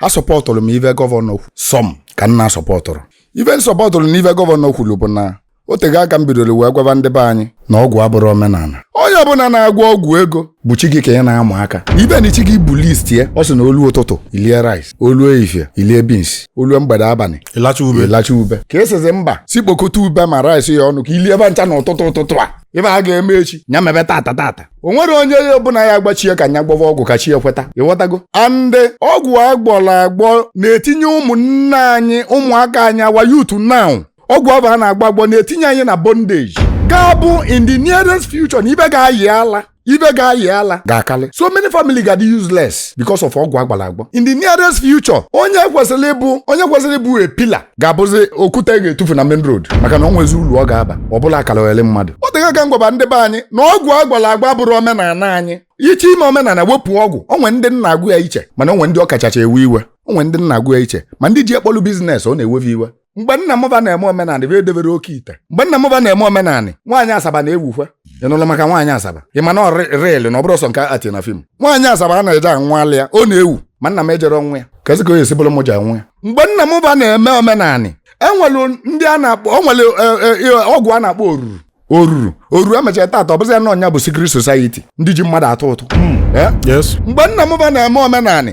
asọpọtụrụ m ive gọvanọ kwu sọm ka m na-asọpọtụrụ ive m sọpọtụrụ na ive gọvanọ kwuru bụ na o tego aka m bidoro wee gwaba ndị be anyị na ọgwụ abụrọ omenala onye ọbụla na-agwọ ọgwụ ego bụ chi gị ka ị na-ama aka ive na chi gị bụ list ya ọ sị na o lu ụtụtụ i lie rice o lu ehihie i lie beans o lu mgbede abalị ị lacha ube ị lacha ube ka ị sịzi mba sị kpokọta ube ma rice ya ọnụ ka i lie be ncha na ụtụtụ ụtụtụ a ive a ga-eme echi nya mebe tata tata o nwere onye ya bụ na ya agwa chi ya ka nya gwọva ọgwụ ka chi ya kweta ịghọtago and ọgwụ agwọrọ agwọ na-etinye ụmụnne anyị ụmụaka anyị our youth now ọgwụ ahụ a na-agwọ agwọ na-etinye anyị na bondage ga-abụ in the nearest future na ive ga-ayị ala ive ga-ayị ala ga-akarị so many family ga-adị useless because of ọgwụ agwọrọ agwọ in the nearest future onye kwesịrị ịbụ onye kwesịrị ịbụ a pillar ga-abụzi okwute a ga-etufu na main road maka na o nwezi ulu ọ ga-aba ọ bụlụ akalogheli mmadụ o tego aka m gwaba ndị be anyị na ọgwụ agwọlụ agwọ abụrọ omenala anyị ị chọọ ime omenala wepụ ọgwụ o nwe ndị na-agụ ya iche mana o nwe ndị ọ kachacha ewe iwe o nwe ndị na-agụ ya iche ma ndị ji ya kpọlụ business ọ na-ewe fe iwe mgbe nna mụ ba na-eme omenala be edebere oke ite mgbe nna mụ ba na-eme omenala nwaanyị asaba na-ewukwe ị nụlụ maka nwaanyị asaba ị ma na real na ọ bụrọ sọ nke ati na fim nwaanyị asaba a na-eje anwụ ala ya ọ na-ewu ma nna m ejerọ ịnwụ ya kezi ka o esi bụrụ m je anwụ ya mgbe nna m ba na-eme omenanị e nwere ndị a na-akpọ o nwere e, e, e, ọgwụ a na-akpọ oruru oruru oruru e mechaa tata ọ bụzi ya na nya bụ secret society ndị ji mmadụ atụ ụtụ hmm. Eh? Yes. mgbe nna m ba na-eme omenanị